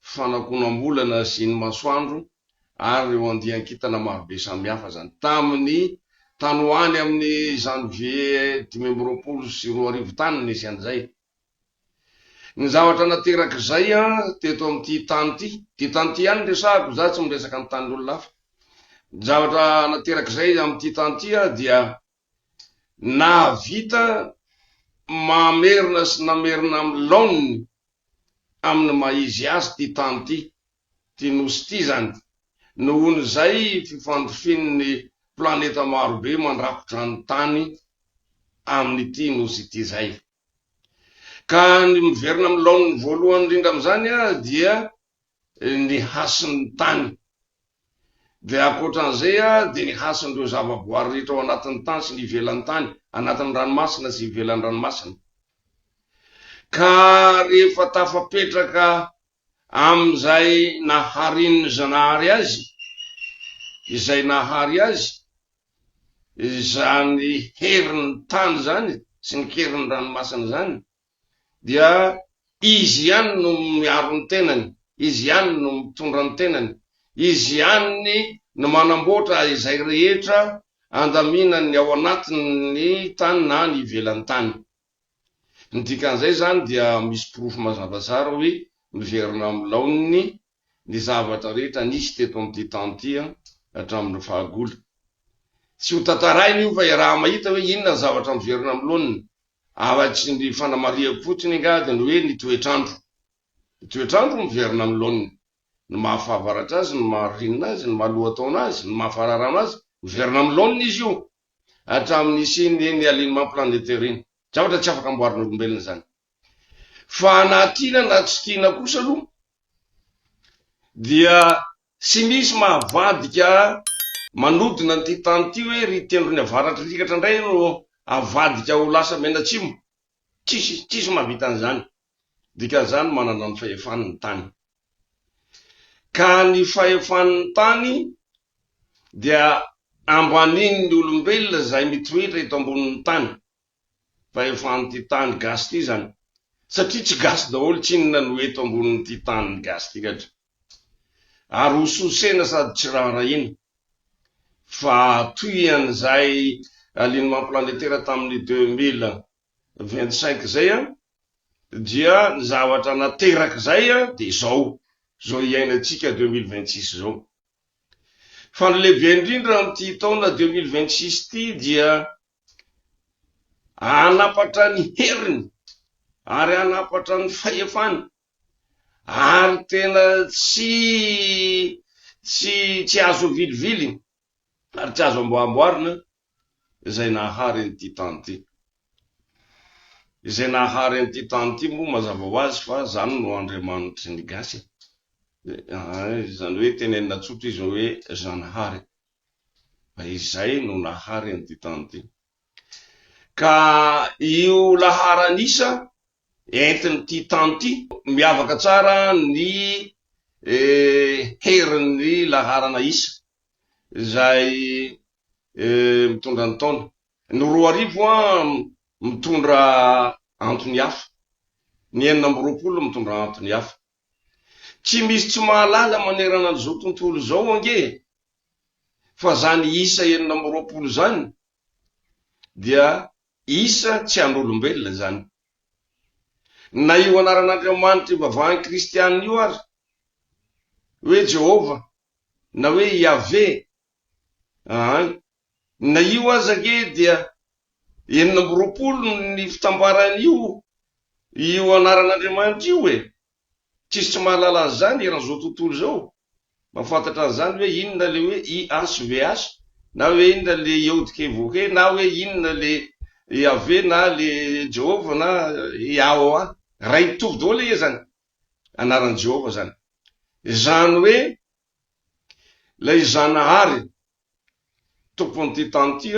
fanakonam-bolana sy ny masoandro ary ireo andian-kintana marobe samihafa izany. Tamin'ny tany ho any amin'ny Janvier dimy amby roapolo sy roa arivo tany no nisy an'izay. Ny zavatra nateraka izay teto amin'ity tany ity, ity tany ity ihany no resahako, izaho tsy miresaka ny tanin'olona hafa. Ny zavatra nateraka izay amin'ity tany ity dia Nahavita mamerina sy namerina amin'ny laoniny amin'ny maha-izy azy ity tany ity, ity Nosy ity izany. Nohon'izay fifandrofian'ny planeta marobe mandrakotra ny tany amin'ity Nosy ity izay. Ka ny miverina amin'ny laoniny voalohany indrindra amin'izany dia ny hasin'ny tany. Dia ankoatran'izay dia ny hasin'ireo zavaboary rehetra ao anatin'ny tany sy ny ivelan'ny tany, anatin'ny ranomasina sy ivelan'ny ranomasina. Ka rehefa tafapetraka amin'izay naharin'ny Zanahary azy, izay nahary azy, izany herin'ny tany izany sy ny herin'ny ranomasina izany, dia izy ihany no miaro ny tenany, izy ihany no mitondra ny tenany, izy ihany no manamboatra izay rehetra andaminan'ny ao anatin'ny tany na ny ivelan'ny tany. Ny dikan'izay izany dia misy porofo mazava tsara hoe miverina amin'ny laoniny ny zavatra rehetra nisy teto amin'ity tany ity hatramin'ny fahagola. Tsy hotantaraina io fa iaraha-mahita hoe inona ny zavatra miverina amin'ny laoniny Arak'y ny fanamarihako fotsiny angady ny hoe ny toetr'andro. Ny toetr'andro miverina amin'ny laoniny. Ny maha fahavaratra azy, ny maha ririnina azy, ny maha lohataona azy, ny maha fararano azy, miverina amin'ny laoniny izy io. Hatramin'ny nisian'ny eny alin'ny maha planetaire iny. Zavatra tsy afaka amboarin'olombelona izany. Fa na tiana na tsy tiana kosa aloha dia Tsy misy mahavadika manodina an'ity tany ity hoe ry tendrony avaratry likatra indray no avadika ho lasa menatsimo. Tsisy, tsisy mahavita an'izany. Dikan'izany manana ny fahefany ny tany. Ka ny fahefan'ny tany dia ambanin'ny olombelona izay mitoetra eto ambonin'ny tany. Vahefahan'ity tany gasy ity izany satria tsy gasy daholo tsinona no eto ambonin'ity tanin'ny gasy ity gadra. Ary ho sosena sady tsy raharahiana. Fa toy an'izay alignement planétaire tamin'ny deux mille vingt cinq izay an, dia ny zavatra nateraka izay dia izao, izao iainantsika deux mille vingt six izao. Fa ny lehibe indrindra amin'ity taona deux mille vingt six ity dia Hanapatra ny heriny ary hanapatra ny fahefany, ary tena tsy, tsy, tsy azo avilivily ary tsy azo amboahamboarina izay nahary an'ity tany ity. Izay nahary an'ity tany ity moa mazava ho azy fa izany no Andriamanitry ny Gasy e! Izany hoe tenenina tsotra izy hoe Zanahary. Izay no nahary an'i Ditandy. Ka io laharan'isa entin'ity tany ity, miavaka tsara ny herin'ny laharana isa izay mitondra ny taona. Ny roa arivo mitondra antony hafa, ny enina amby roapolo mitondra antony hafa. Tsy misy tsy mahalala manerana an'izao tontolo izao ange fa izany isa enina amby roapolo izany dia isa tsy an'olombelona izany. Na io anaran'Andriamanitra ivavahan'ny Kristiana io ary, hoe Jehovah na hoe Iaveh, aa Na io aza ange dia enina amby roapolo ny fitambaran'io io anaran'Andriamanitra io e! Tsisy tsy mahalala an'izany eran'izao tontolo izao. Mahafantatra an'izany hoe inona ilay hoe YHVH na hoe inona ilay Yod-Key-Voh-Key na hoe inona ilay Yaveh na ilay Jehovah na YAHOA. Iray mitovy daholo ange izany anaran'i Jehovah izany. Izany hoe Ilay Zanahary, Tompon'ity tany ity,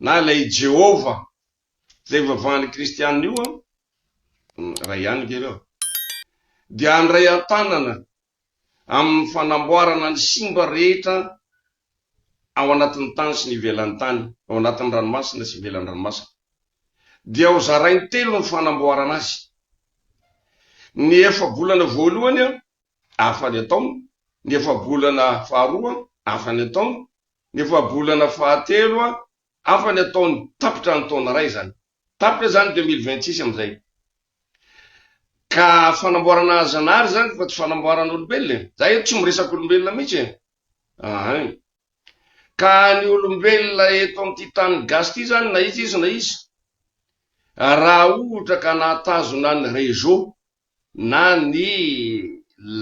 na ilay i Jehovah, izay ivavahan'ny Kristianina io, iray ihany ve ireo? dia handray an-tanana amin'ny fanamboarana ny simba rehetra ao anatin'ny tany sy ny ivelan'ny tany, ao anatin'ny ranomasina sy ivelan'ny ranomasina. Dia hozarainy telo ny fanamboarana azy. Ny efa-bolana voalohany afany an-taona, ny efa-bolana faharoa afany an-taona, ny efa-bolana fahatelo afany an-taona, tapitra ny taona iray izany. Tapitra izany deux mille vingt six amin'izay. Ka fanamboarana zanahary izany fa tsy fanamboarana olombelona e. Za eto tsy miresaka olombelona mihitsy e. Ahay. Ka ny olombelona eto amin'ity tany gasy ity izany na iza izy na iza, raha ohatra ka nahatazona ny réseau, na ny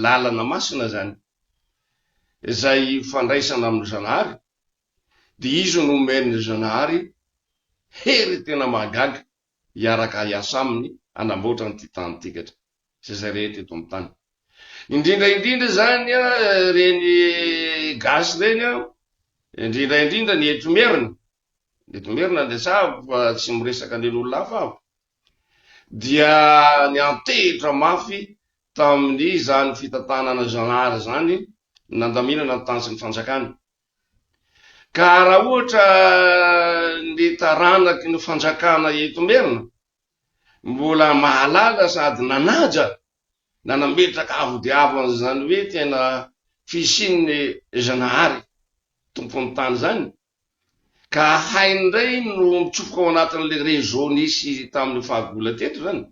lalana masina izany, izay fandraisana amin'ny Zanahary, dia Izy no omen'ny Zanahary hery tena mahagaga hiaraka hiasa Aminy hanamboatra an'ity tanintsika sy izay rehetra eto amin'ny tany. Indrindra indrindra izany ireny gasy ireny, indrindra indrindra ny eto Merina, ny eto Merina no resahako fa tsy miresaka an'ireo olona hafa aho, dia niantehitra mafy tamin'izany fitantanana zanahary izany nandaminana ny tany sy ny fanjakany. Ka raha ohatra ny taranaky ny fanjakana eto Merina mbola mahalala sady nanaja na nametraka avo dia avo an'izany hoe tena fisian'ny zanahary tompon'ny tany izany, Ka hainy indray no mitsofoka ao anatin'ilay réseau nisy tamin'io fahagola teto izany.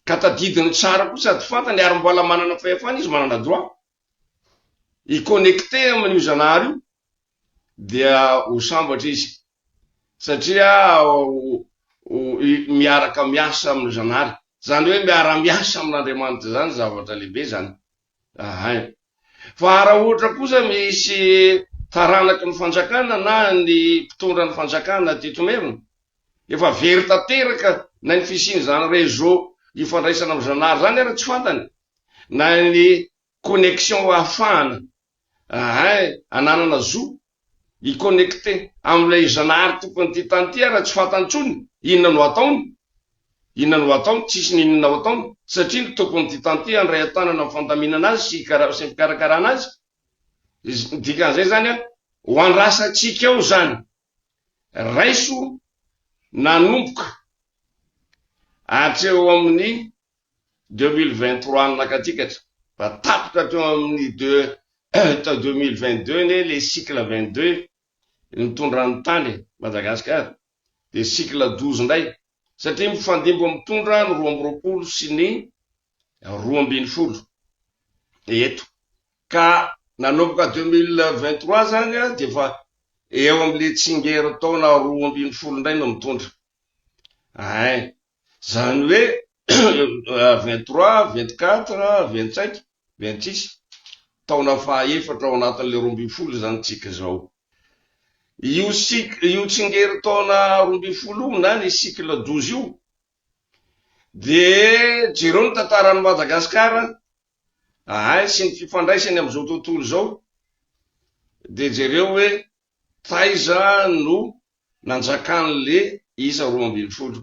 Ka tadidiny tsara koa sady fantany ary mbola manana fahefana izy, manana droit, hi-connecter amin'io Zanahary io dia ho sambatra izy satria miaraka miasa amin'ny Zanahary. Izany hoe miara-miasa amin'Andriamanitra izany zavatra lehibe izany. Ahay. Fa raha ohatra kosa misy taranaky ny fanjakana na ny mpitondra ny fanjakana teto Merina, efa very tanteraka na ny fisian'izany réseau ifandraisana amin'i Zanahary izany ary tsy fantany, na ny connexion ahafahana Eehh ananana zo hi connecter amin'ilay Zanahary tompon'ity tany ity ary tsy fantany intsony inona no ataony, inona no ataony, tsisy ny inona ho ataony satria ny tompon'ity tany ity handray an-tanana ny fandaminana azy sy fikarakarana azy, dikan'izay izany an, ho andrasantsika ao izany. Raiso nanomboka hatreo amin'ny deux mille vingt trois nanakatikatra fa tapitra hatreo amin'ny deux tao deux mille vingt deux anie le cycle vingt deux nitondra ny tany Madagasikara dia cycle douze indray satria mifandimby mitondra ny roa amby roapolo sy ny roa ambin'ny folo eto ka nanomboka deux mille vingt trois zany a dia efa eo amin'le tsingerin-taona roa ambin'ny folo indray no mitondra ay zany hoe vingt trois vingt quatre vingt cinq vingt six taona faha efatra ao anatin'le roa ambin'ny folo zany tsika zao Io cycle, io tsingerin-taona roa ambin'ny folo io na ny cycle douze io dia jereo ny tantaran'i Madagasikara ahay sy ny fifandraisany amin'izao tontolo izao dia jereo hoe taiza no nanjakan'le isa roa ambin'ny folo.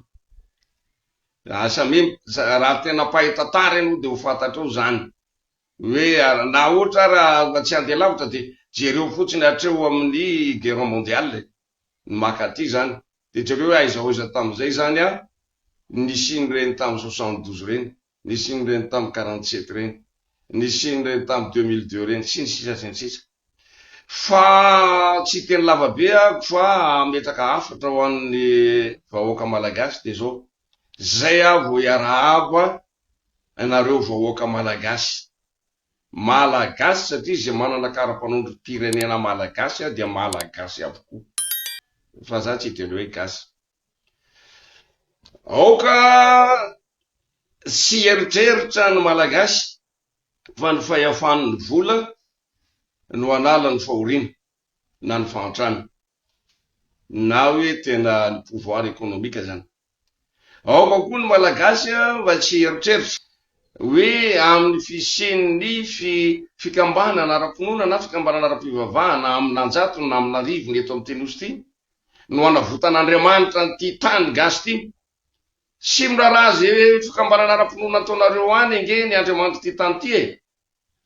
Asa mim, raha tena mpahay tantara ianao dia ho fantatrao izany. Hoe ary, na ohatra ary mba tsy handeha lavitra dia jereo fotsiny hatreo amin'ny guerre mondiale e! ny maka aty izany dia jereo hoe aiza hoaiza tamin'izay izany an! nisian'ireny tamin'ny soixante douze ireny, nisian'ireny tamin'ny quarante sept ireny, nisian'ireny tamin'ny deux mille deux ireny sy ny sisa sy ny sisa. Fa tsy hiteny lava be aho fa hametraka hafatra ho an'ny vahoaka malagasy dia izao, Zay aho vao hiarahaba anareo vahoaka Malagasy. Malagasy satria izay manana karapanondrom-pirenena Malagasy dia Malagasy avokoa. Fa za tsy hiteny hoe gasy. Aoka tsy hieritreritra ny Malagasy fa ny fahefan'ny vola no hanala ny fahoriana. na ny fahantrana na hoe tena ny pouvoir économique zany. Aoka koa ny Malagasy mba tsy hieritreritra hoe amin'ny fisian'ny fi fikambanana ara-pinoana na fikambanana ara-pivavahana amin'anjatony na amin'arivony eto amin'ity Nosy ity no hanavotan'Andriamanitra an'ity tany gasy ity. Tsy miraharaha ze fikambanana ara-pinoana ataonareo any ange ny Andriamanitry ty tany ty e!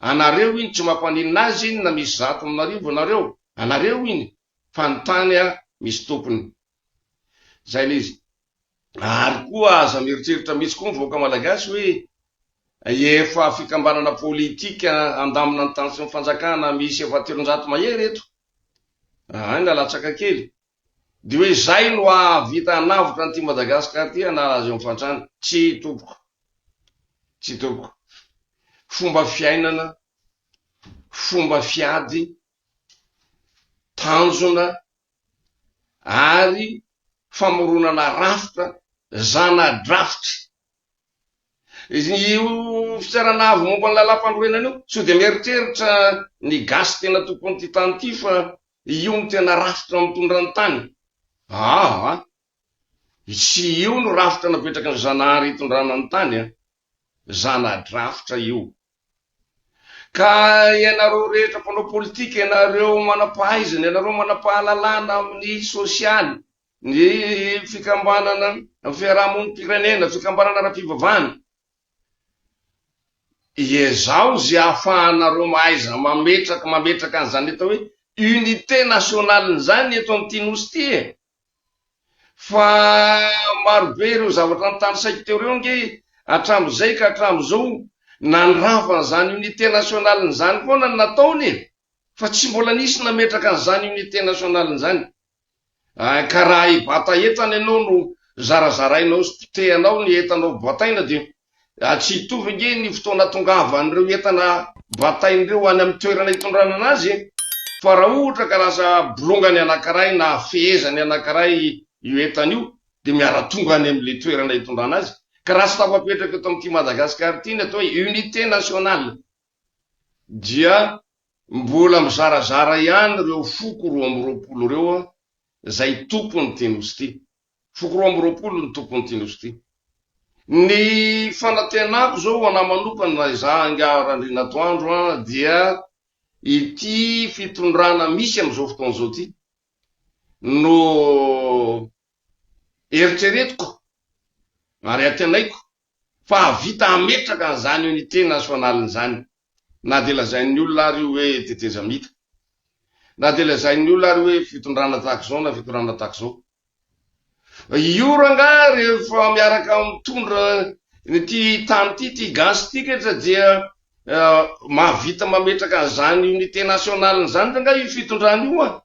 Anareo iny tsy mampaninona azy iny na misy zato aminarivony nareo, anareo iny fa ny tany a misy tompony. Zay le izy. Ary koa aza mieritreritra mitsy koa ny vahoaka malagasy hoe efa fikambanana politika handamina ny tany sy ny fanjakana misy efa telonjato mahery eto. Raha any lalatsaka kely. Dia hoe izay no hahavita hanavotra an'ity Madagascar ity hanala azy eo amin'ny fantrana. Tsia tompoko. Tsia tompoko. Fomba fiainana, fomba fiady, tanjona ary famoronana rafitra zana-drafitra. Io fitsarana avo momba ny lalam-panorenana io, sao dia mieritreritra ny gasy tena tompon'ity tany ity fa Io no tena rafitra mitondra ny tany? Aa! tsy io no rafitra napetraky ny Zanahary hitondrana ny tany a! zana-drafitra io! Ka ianareo rehetra mpanao politika, ianareo manam-pahaizana, ianareo manam-pahalalana amin'ny sosialy, ny fikambanana fiaraha-monim-pirenena, fikambanana ara-pivavahana, Iezaho ze afahanareo mahaiza mametraky mametraka an'izany atao hoe unité nationale zany eto amin'ity nosy ty e! Fa marobe ireo zavatra nitanisaiko teo reo nge hatramin'izay ka hatramin'izao nandrava an'izany unité nationale zany foana ny nataony e! Fa tsy mbola nisy nametraka an'izany unité nationale zany Ka raha hibata entana ianao no zarazarainao sy potehanao ny entanao bataina dia tsy hitovy ange ny fotoana atongavan'ireo entana bataina ireo any amin'ny toerana itondranana azy e! Fa raha ohatra ka lasa bolongany anankiray na fehezany anankiray io entana io dia miara-tonga any amin'ilay toerana itondrana azy ka raha tsy tafapetraka eto amin'ity Madagasikara ity ny atao hoe unité nationale dia mbola mizarazara ihany ireo foko roa amby roapolo ireo izay tompon'ity nosy ity. Foko roa amby roapolo ny tompon'ity nosy ity. Ny fanantenako izao ho an'ahy manokana raha izaho angaha Randrianatoandro an, dia ity fitondrana misy amin'izao fotoana izao ity no eritreretiko ary antenaiko fa hahavita hametraka an'izany unité nationale izany, na dia lazain'ny olona ary io hoe tetezamita, na dia lazain'ny olona ary hoe fitondrana tahaka izao na fitondrana tahaka izao. Io rangahy rehefa miaraka mitondra ity tany ity, ity gasy ity ketra dia mahavita mametraka an'izany unité nationale izany rangahy io fitondrana io an!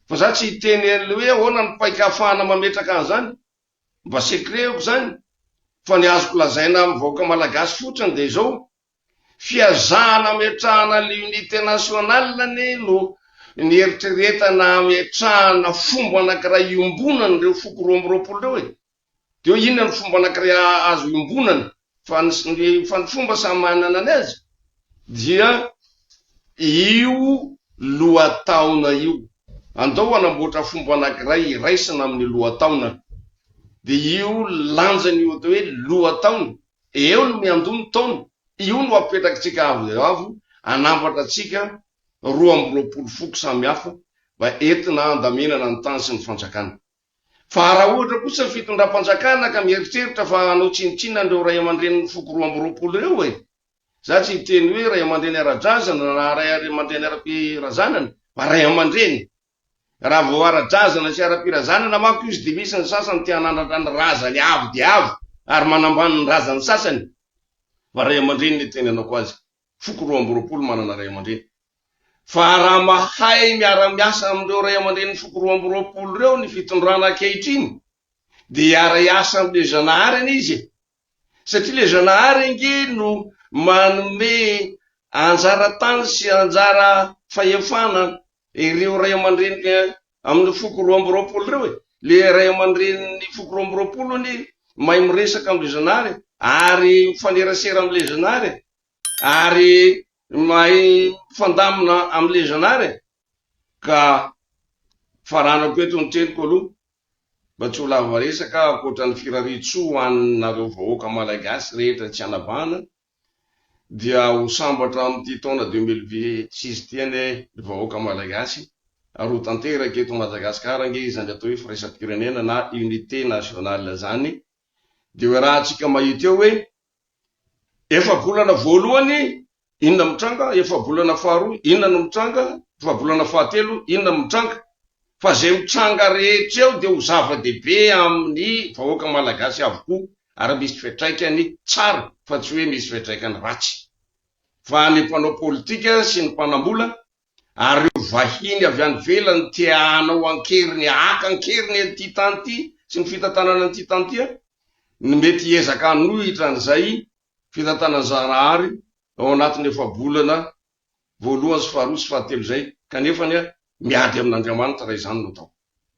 Fa za tsy hiteny an'ilay hoe ahoana ny paik'ahafahana mametraka an'izany. Mba secret aoko zany fa ny azoko lazaina amin'ny vahoaka malagasy fotsiny dia izao, fihazahana hametrahana ny unité nationale anie no nieritreretana hametrahana fomba anankiray iombonana ireo foko roa amby roapolo ireo e! Dia hoe inona ny fomba anankiray azo iombonana? Fa ny fa ny fomba samy manana ny azy dia io lohataona io. Andao hanamboatra fomba anankiray hiraisana amin'ny lohataona. Dia io lanjany io atao hoe lohataona, eo no miandoha ny taona, io no apetrakitsika avo dia avo, hanambatra antsika roa amby roapolo foko samihafa mba entina handaminana ny tany sy ny fanjakana. Fa raha ohatra kosa ny fitondram-panjakana ka mieritreritra fa hanao tsinontsinona an'ireo ray aman-drenin'ny foko roa amby roapolo ireo e! Za tsy hiteny hoe ray aman-dreny ara-drazana na ray aman-dreny ara-pirazanana fa ray aman-dreny! Raha vao ara-drazana sy ara-pirazanana manko izy dia misy ny sasany te hanandratra ny razany avo dia avo ary manambany ny razan'ny sasany fa ray aman-dreny ny itenenako azy. foko roa amby roapolo manana ray aman-dreny. Fa raha mahay miara-miasa amin'ireo ray aman-drenin'ny foko roa amby roapolo ireo ny fitondrana ankehitriny dia hiara-hiasa amin'ilay Zanahary anie izy e! Satria ilay Zanahary ange no manome anjara tany sy anjara fahefana ireo ray aman-dreny amin'ny foko roa amby roapolo ireo e! Ilay ray aman-drenin'ny foko roa amby roapolo anie mahay miresaka amin'ilay Zanahary ary mifanerasera amin'ilay Zanahary e! ary mahay mifandamina am le zanare e! ka faranako eto ny teniko aloha mba tsy ho lava resaka ankoatra ny firariantsoa ho an nareo vahoaka Malagasy rehetra tsy anavahana dia ho sambatra am ty taona deux mille vit six ity anie ry vahoaka Malagasy ary ho tanteraka eto Madagascar ange izany atao hoe firaisam-pirenena na unité nationale zany dia hoe raha tsika mahita eo hoe Efa-bolana voalohany, inona mitranga? Efa-bolana faharoa, inona no mitranga? Efa-bolana fahatelo, inona no mitranga? Fa izay mitranga rehetra eo dia ho zava-dehibe amin'ny vahoaka malagasy avokoa ary misy fiantraikany tsara fa tsy hoe misy fiantraikany ratsy. Fa ny mpanao politika sy ny mpanambola ary ireo vahiny avy any ivelany te hanao an-keriny, haka an-keriny an'ity tany ity sy ny fitantanana an'ity tany ity an, ny mety hiezaka hanohitra an'izay fitantanana Zaharahary ao anatin'ny efa-bolana voalohany sy faharoa sy fahatelo izay, kanefany an, miady amin'Andriamanitra raha izany no atao.